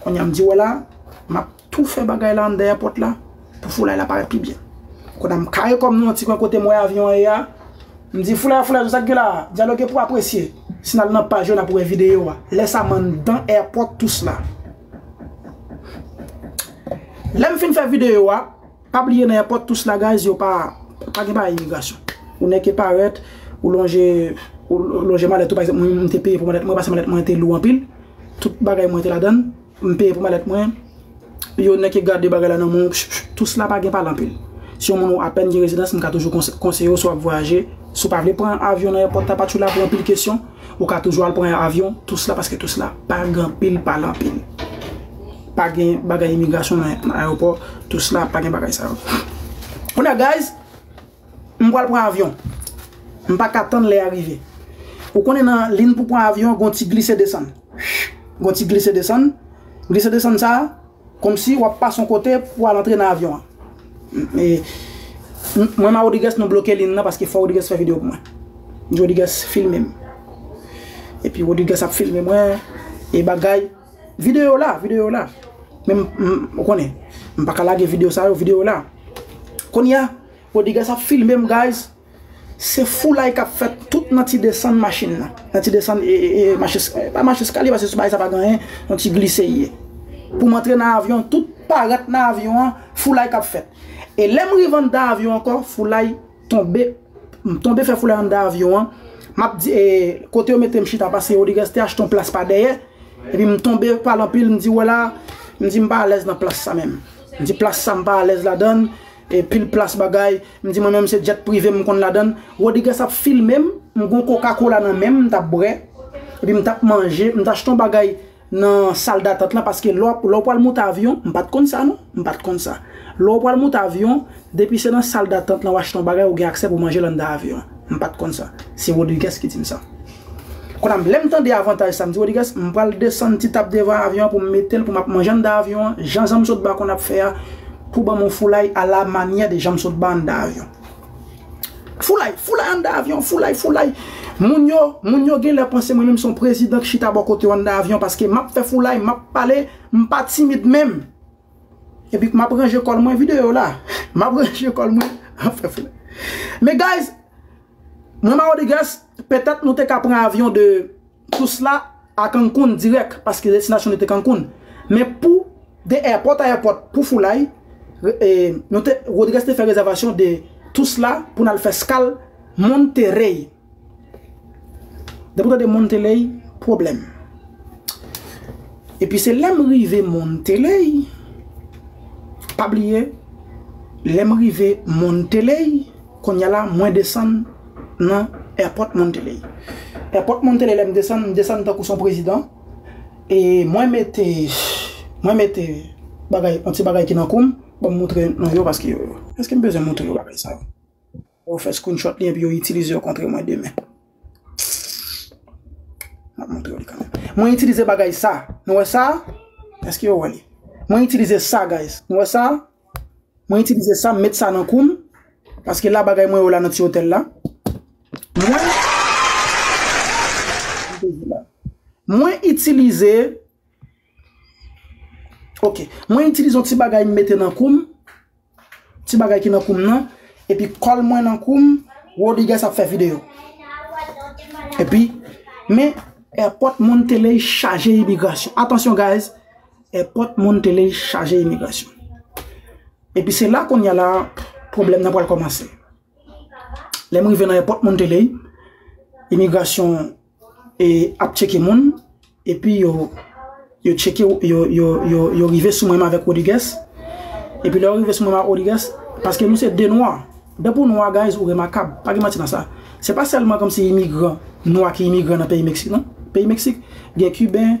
Konnya m di wè la, m ap tou fè bagay la andèyè pòt la pou foulay la parèt pi byen. Konnya m kare kò m nan yon ti kwen kote m wè avyon an ye a, m di foulay foulay zòn sa k gen la a? Dyaloge pou apresye. Si n al nan paj yo n ap wè videyo a. Lè sa m anndan èpòt Tousla. Lè m fin fè videyo a. Pa bliye nan èpòt tous la guys yo pa pa gen bagay imigrasyon ou nèk e parèt ou lonje ou lonje malèt ou pa egzanp mwen m te peye pou malèt mwen paske malèt mwen te lou anpil tout bagay mwen te ladann m peye pou malèt mwen yo nèk e gade bagay la nan men w pch pch tous la pa gen pale anpil si yon moun ou apèn gen rezidans m ka toujou konse konseye w si w ap vwayaje si w pa vle pran avyon nan èpòt la pa tjou la pou anpil kesyon ou ka toujou al pran avyon tous la paske tous la pa gen anpil pale anpil. Pa gen bagay imigrasyon nan ayewopò tous la pa gen bagay sa yo. Kounye a guys, m pral pran avyon. M pa ka tann lè a rive. Ou konnen nan lin pou pran avyon gon ti glise desann. Gon ti glise desann. Glise desann sa a, kòmsi wap pase yon kote pou al antre nan avyon an. Mwen ma Rodrigues nou bloke lin nan paske fò Rodrigues fè video pou mwen. Rodrigues filme m. Epi Rodrigues ap filme mwen e bagay. Video la, video la. Men m, m, ou konnen, m pa ka lage video sa yo, video la. Kounye a, Bodigas ap filme m guys, se foulay k ap fèt tout nan ti desann machin nan. Nan ti desann, e, e, e, machin, e, pa machin eskalye paske sou bagay sa pa gen anyen, yon ti glise l ye. Pou m antre nan avyon, tout paret nan avyon an, foulay k ap fèt. E lè m rive anndan avyon ankò, foulay. Tonbe M tonbe fè foulay anndan avyon an M ap di e Kote yo mete m chita pase Rodrigues te achte yon plas pa dèyè Epi m tonbe pale anpil m di wè la M di m pa alèz nan plas sa menm M di plas sa m pa alèz ladan l E pil plas bagay M di mwen menm se djèt prive m konn ladan l Rodrigues ap filme m M gen yon kokakola nan men m m t ap bwè Epi m t ap manje M t achte yon bagay nan sal datant lan paske lè w pral moute avyon m pat konn sa non m pat konn sa lè w pral moute avyon depi se nan sal datant lan w achte yon bagay ou gen aksè pou manje l anndan avyon m pat konn sa se Rodrigues ki di m sa kounye a m lè m tande avantaj sa m di Rodrigues m pral desann ti tab devan avyon an pou m mete l pou m ap manje anndan avyon an jan janmsotba konn ap fè a pou ban m yon foulay a la manyè de janmsotba anndan avyon. Foulay, foulay anndan avyon, foulay, foulay. Moun yo, moun yo genlè panse mwen menm son prezidan k chita bò kote yo anndan avyon paske map fè foulay, map pale, m pa timid menm. Epi map ranje kòl mwen, videyo yo la, map ranje kòl mwen, map fè foulay. Men guys, mwen Maodrigues, petèt nou te ka pran avyon de. Tout sla a Cancun dirèk paske destinasyon li te Cancun. Men pou de èpòt a èpòt pou foulay, nou te Rodriguez te fè rezèvasyon de tout sla pou n al fè skal Monterrey. Depi w tande Monteley, pwoblèm. Epi se lè m rive Monteley, pa bliye lè m rive Monteley, kounye a la mwen desann. nan Airport Monteley. Airport Monteley lè m desann, m desann tankou s on prezidan e mwen mete, mwen mete bagay, on ti bagay ki nan kou m, ban m moutre nou yo paske yo, èske m bezwen moutre yo bagay sa yo? Yo fè screenshot li epi yo itilize yo kontre mwen demen. M ap moutre yo li kanmenm. Mwen itilize bagay sa, nou wè sa? Èske yo wè li? Mwen itilize sa guys, nou wè sa? Mwen itilize sa, m met sa nan kou m, paske la bagay mwen yo la nan ti otèl la. Mwen itilize, ok, mwen itilize yon ti bagay m mete nan kou m, ti bagay ki nan kou m nan, epi kòl mwen nan kou m, Rodrigues ap fè video. Epi, men, airport Monteley chaje imigrasyon. Atansyon guys! Èpòt moun tele chaje imigrasyon. Epi se la kounye a la pwoblèm nan pral kòmanse. Lè m rive nan èpòt moun tele, imigrasyon ap tcheke moun, epi yo tcheke, yo rive sou mwen m avèk Rodrigues, epi lè yo rive sou mwen m avèk Rodrigues, paske nou se 2 nwa, dèpi w nwa guys ou remakab, pa gen manti nan sa. Se pa sèlman kòmsi imigran nwa ki imigran nan peyi Meksik non. Peyi Meksik gen Kiben,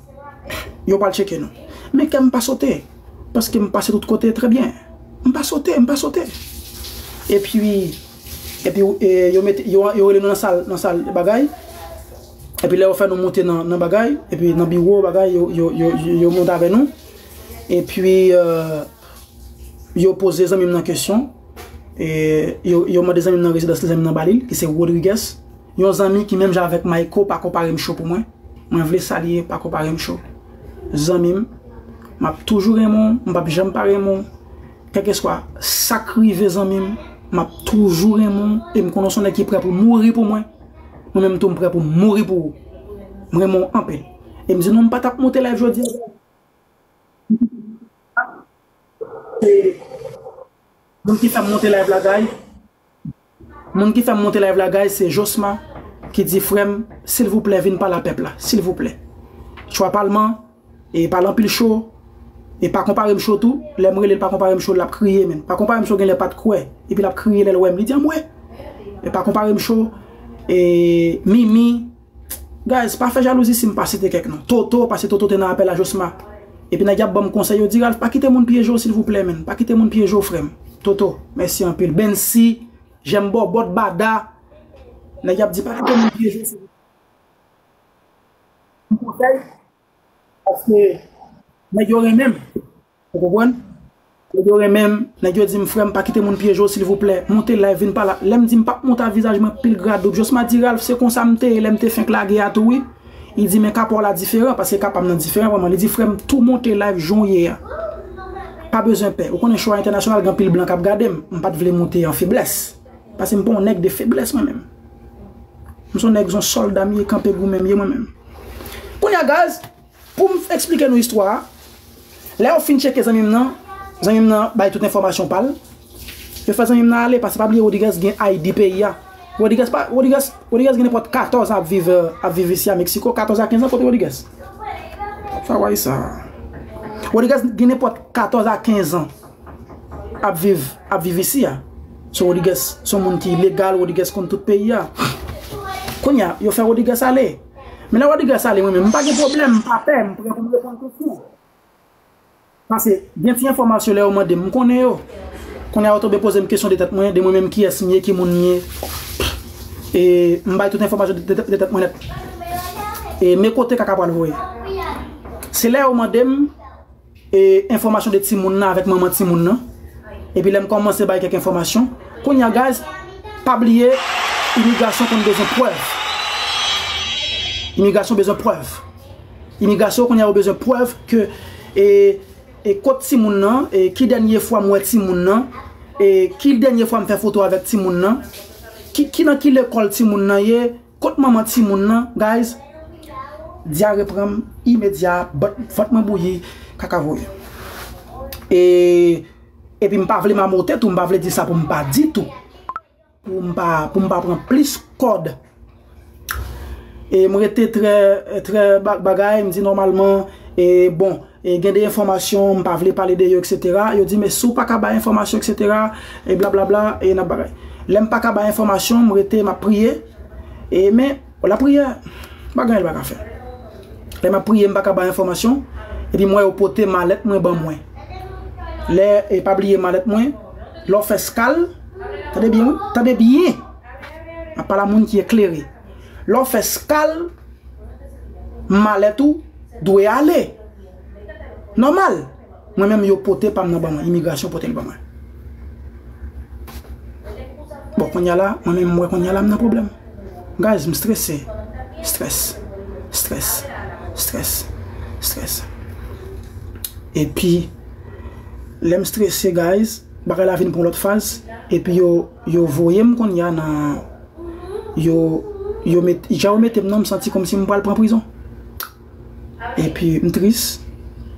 Yo pral tcheke nou. Men kè m pa sote. Paske m pase tout kote trè byen. M pa sote, m pa sote. E pi, e pi yo mete, yo rele nou nan sal, nan sal bagay. E pi lè yo fè nou monte nan bagay, e pi nan biwo bagay, yo monte avè nou. E pi, yo pose zanmi m nan kesyon. E yo mande zanmi m nan rezidansi zanmi m nan ba li, ki se Rodrigues. Yon zanmi ki menm jan avèk mayko pa konparem show pou mwen mwen vle salye pa konparem show zanmim map toujou renmen w m pap janm pa renmen w kèlkeswa sak rive zanmim map toujou renmen w em konnen w son nèg ki prè pou mouri pou mwen mwen menm tou m prè poum mouri pou ou m renmen w anpil em di nou m patap moute live jodia se moun ki fèm moute live la guys. Moun ki fèm monte live la guys se josma ki di frèm silvouplè vin pale a pèp la silvouplè chwa palman e pale anpil cho e pa konparem cho tou lèm relel pa konparem cho lap kriye menn pa konparem cho genlè pat kwè epi lap kriye lèl wèm li di anmwee pa konparem cho e mimi Guys pa fè jalouzi sim pa site kèk non Toto pase Toto te nan apèl a Josma epi nèg yap banm konsèy yo di Ralph pa kite moun pyejew silvouplè menn pa kite moun pyejew frèm Toto mèsi anpil Bensy jèm bòbòt Bada nèg yap di pa kite moun pyejew silvouplè m konsèy Paske nèg yo renmen m. Ou konprann? Nèg yo renmen m, nèg yo di m frè m pa kite moun pyeje w silvouplè. Monte live vin pale. Lè m di m pap monte a vizaj mwen pil gra doub. Josma di Ralph se konsa m te ye lè m te fenk lage a tou wi. Li di men ka pa w la diferan paske ka pa m nan diferan vrèman. Li di frè m tou monte live jan w ye a. Pa bezwen pè. Ou konnen show a entènasyonal gen anpil blan k ap gade m. M pa t vle monte an feblès. Pase m pa yon nèg de feblès mwen menm. M son nèg son sòlda m ye kanpe goumen m ye mwen menm. Kounye a guys, pou m eksplike nou istwa a, lè yo fin tcheke zanmi m nan, zanmi m nan bay tout enfòmasyon pa l, yo fè zanmi m nan ale pase pa bliye Rodrigues gen ID peyi a. Rodrigues pa, Rodrigues, Rodrigues gen nenpòt 14 an ap viv, ap viv isi a Meksiko, 14 a 15 an kote Rodrigues? Sa wè sa. Rodrigues gen nenpòt 14 a 15 an. ap viv ap viv isi a so Rodrigues son moun ki legal Rodrigues konn tout peyi a kounya yo fè Rodrigues ale men lè Rodrigues ale mwen menm m pa gen pwoblèm m pa pè m pran pou m reponn kesyon pase gen ti enfòmasyon lè yo mande m m konnen yo kounya yo tonbe poze m kesyon de tèt mwen de mwen menm kiyès m ye ki moun m ye e m bay tout enfòmasyon de tèt mwen nèt e me kote kaka pral voye se lè yo mande m E enfòmasyon de timoun nan avèk manman timoun nan epi lèm kòmanse bay kèk enfòmasyon kounya guys pa bliye imigrasyon konn bezwen prèv imigrasyon bezwen prèv imigrasyon kounya yo bezwen prèv ke e kot timoun nan e ki dènye fwa m wè timoun nan e ki dènye fwa m fè foto avèk timoun nan ki nan ki lekòl timoun nan ye. Kot manman timoun lan guys Diare pranm imedya vant mwen bouyi kaka voye e Epi m pa vle mamote tou m pa vle di sa pou m pa di tou pou m pa pou m pa pran plis kòd e m rete trè trè bagay m di nòmalman e bon. E gen de enfòmasyon m pa vle pale de yo etc. Yo di men si w pa ka bay enfòmasyon etc. E blablabla e nan bagay. Lè m pa ka bay enfòmasyon m rete m ap priye e men lapriyè pa gen anyen l pa ka fè. Lè m ap priye m pa ka bay enfòmasyon epi m wè yo pote malèt mwen ban mwen. Lè e pa bliye malèt mwen lè w fè skal tande byen wi tande byen m ap pale a moun ki eklere. Lè w fè skal, malèt ou dwe ale. Nòmal. Mwen menm yo pote pa m nan ban mwen, imigrasyon pote l ban mwen. Bon kounya la, mwen menm m wè kounya la m nan pwoblèm. Guys, m strese. Stress. Stress. Stress. Stress. Epi, lè m strese guys, bagay la vin pran lòt faz, epi yo voye m kounya nan. yo yo met jan yo metem nan m santi kòmsi m pral pran prizon epi m tris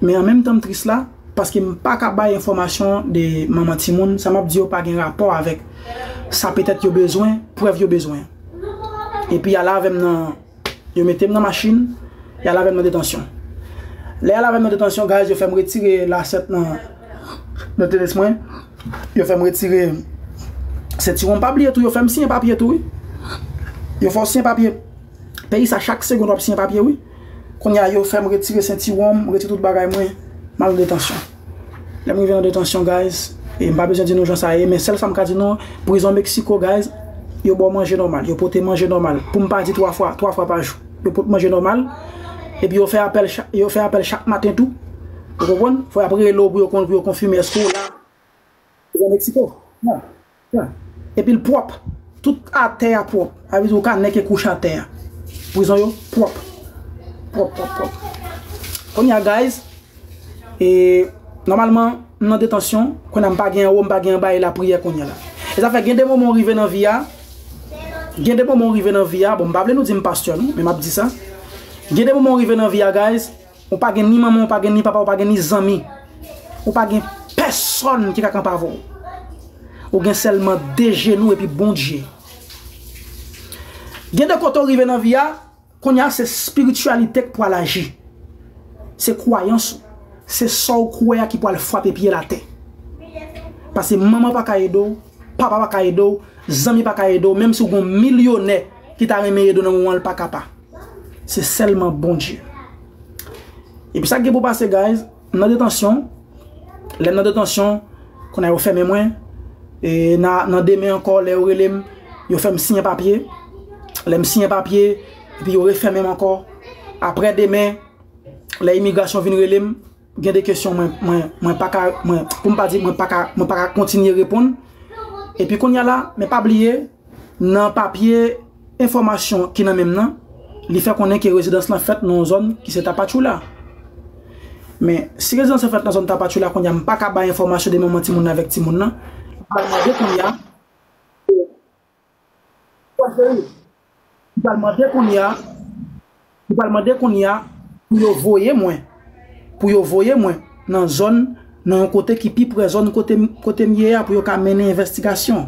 men an menm tan m tris la paske m pa ka bay enfòmasyon de manman timoun sa map di yo pa gen rapò avèk sa petèt yo bezwen prèv yo bezwen epi ale avèm nan Yo mete m nan machin, y al avè m nan detansyon. Lè y al avè m nan detansyon, guys, yo fè m retire lasèt nan tenis mwen, yo fè m retire sentiwon m. Pa bliye tou, yo fè m siyen papye tou wi. Yo fè w siyen papye. Peyi sa chak segond w ap siyen papye wi. Kounye a yo fè m retire sentiwon m, retire tout bagay mwen, m al nan detansyon. Lèm rive nan detansyon guys e mpa bezwen di nou jan sa ye men sèl sam ka di nou prizon Mexico guys yo baw manje nòmal yo pote manje nòmal poum pa di 3 fwa 3 fwa pa jou yo pot manje nòmal epi yo fè apèl chak yo fè apèl chak maten tou ou konprann fò yap rele'w pou yo konn pou yo konfime èske ou la prizon Mexico nan. Epil pwòp tout atè a pwòp sa vle di ou ka nèke kouch atè a prizon yo pwòp pwòp pwòp pwòp kounye a guys e nòmalman m nan detansyon kounye a m pa gen anwo m pa gen anba e lapriyè kounye la e sa fè gen de moman ou rive nan vi a gen de moman ou rive nan vi a bon m pa vle nou di m pastè non men m ap di sa gen de moman ou rive nan vi a guys. Ou pa gen ni manman, ou pa gen ni papa, ou pa gen ni zanmi. Ou pa gen pèsòn ki ka kanpe avè w. Ou gen sèlman de jenou epi Bondye. Gen de kote ou rive nan vi a, kounye a se spirityalite k pou al aji. Se kwayans ou. Se sa w kwè a ki pou al frape pye l atè. Pase manman pa ka ede w, papa pa ka ede w, zanmi pa ka ede w, menm si w gen yon milyonè ki ta renmen ede w nan moman an, li pa ka pa. Se sèlman Bondye. Epi sa k gen pou pase guys, m nan detansyon, lè m nan detansyon, kounye a yo fèmen mwen, e nan demen ankò lè yo rele m, yo fè m siyen papye, lè m siyen papye, epi yo refèmen m ankò, aprè demen, lè imigrasyon vin rele m. Gen de kesyon mwen, mwen, mwen pa ka, mwen, pou m pa di mwen pa ka, mwen pa ka kontinye reponn. Epi kounye a la, men pa bliye, nan papye enfòmasyon ki nan men m nan, li fè konnen ke rezidans lan fèt nan yon zòn ki se Tapachula. Men, si rezidans lan fèt nan zòn Tapachula, kounye a m pa ka bay enfòmasyon de manman timoun nan avèk timoun nan. M pral mande kounye a. Li pral mande kounye a, li pral mande kounye a pou yo voye mwen, pou yo voye mwen nan zòn, nan yon kote ki pi pre zòn kote m, kote m ye a pou yo ka mennen envèstigasyon.